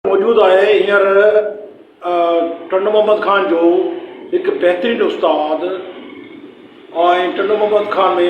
موجود آهي هينئر ٽنڊو محمد خان جو هڪ بهترين استاد ۽ ٽنڊو محمد خان ۾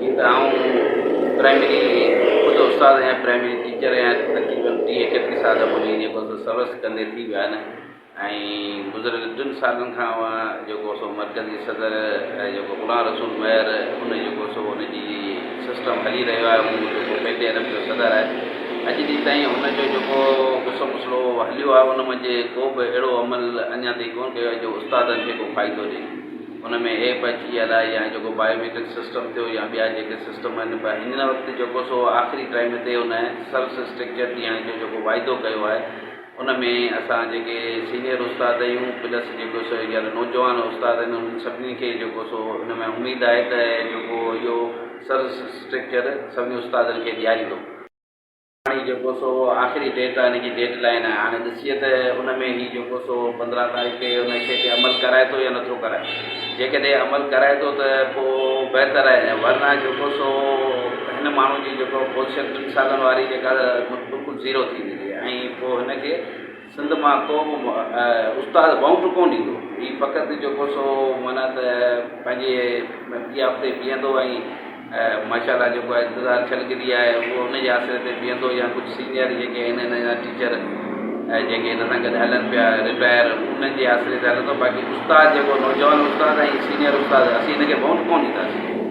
جيئن ته آئون پرائمري خود استاد آهيان پرائمري ٽيچر آهيان تقريبن ٽيهه ايڪٽيهه سال منهنجي جيڪو سو سروس ڪندي ٿي ويا آهن ۽ گذريل ٽن سالن کان آئون جيڪو سو مرڪزي صدر جيڪو غلام رسول مهر ان جيڪو سو ان جي سسٽم هلي رهيو آهي هو جيڪو پي ٽي ايل ايف جو صدر آهي اڄ ڏينهن تائين ان جو جيڪو غصو مسلو هليو آهي ان منجهه ڪو به اهڙو عمل اڃا تائين ڪونه ڪيو آهي جو استادن کي ڪو فائدو ڏئي ان ۾ ايپ اچي ويا الاء يا جيڪو بايو ميٽرڪ سسٽم ٿيو يا ٻيا جيڪي سسٽم آهن پر هينئر وقت جيڪو سو آخري ٽائيم تي ان سرس اسٽرڪچر تي يا جو جيڪو واعدو ڪيو آهي ان ۾ اسان جيڪي سينئر استاد اهيون پلس جيڪو سو هينئر نوجوان استاد آهن انهن سڀني کي جيڪو سو ان ۾ اميد آهي ته جيڪو اهو سرس اسٽرڪچر سڀني استادن کي ڏياريندو. هاڻي جيڪو سو آخري ڊيٽ آهي ان جي ڊيڊ لائين آهي هاڻي ڏسجي ته ان ۾ هي جيڪو سو پندرهن تاريخ کي ان شي تي عمل ڪرائي ٿو يا نٿو ڪرائي جيڪڏهن عمل ڪرائي ٿو ته پو بهتر آهي نه ورنه جيڪو سو هن ماڻهو جي جيڪو پوزيشن ٽن سالن واري جيڪا بلڪل زيرو ٿي ويندي ۽ پو هن کي سنڌ مان ڪو به استاد بئونٽ ڪونه ڏيندو هي فقط جيڪو سو معنيٰ ته پنهنجي ٻي آب تي بيهندو ۽ ماشاء الله جيڪو آهي انتظار ڇلڪجي آهي هو ان جي آسري تي بيهندو يا ڪجهه سينئر جيڪي آهن هن جا ٽيچر جيڪي هن سان گڏ هلن پيا رٽائر انهن جي آسري تي هلندو باقي استاد جيڪو نوجوان استاد ۽ سينئر استاد اسين هن کي بئونٽ ڪونه ڏينداسين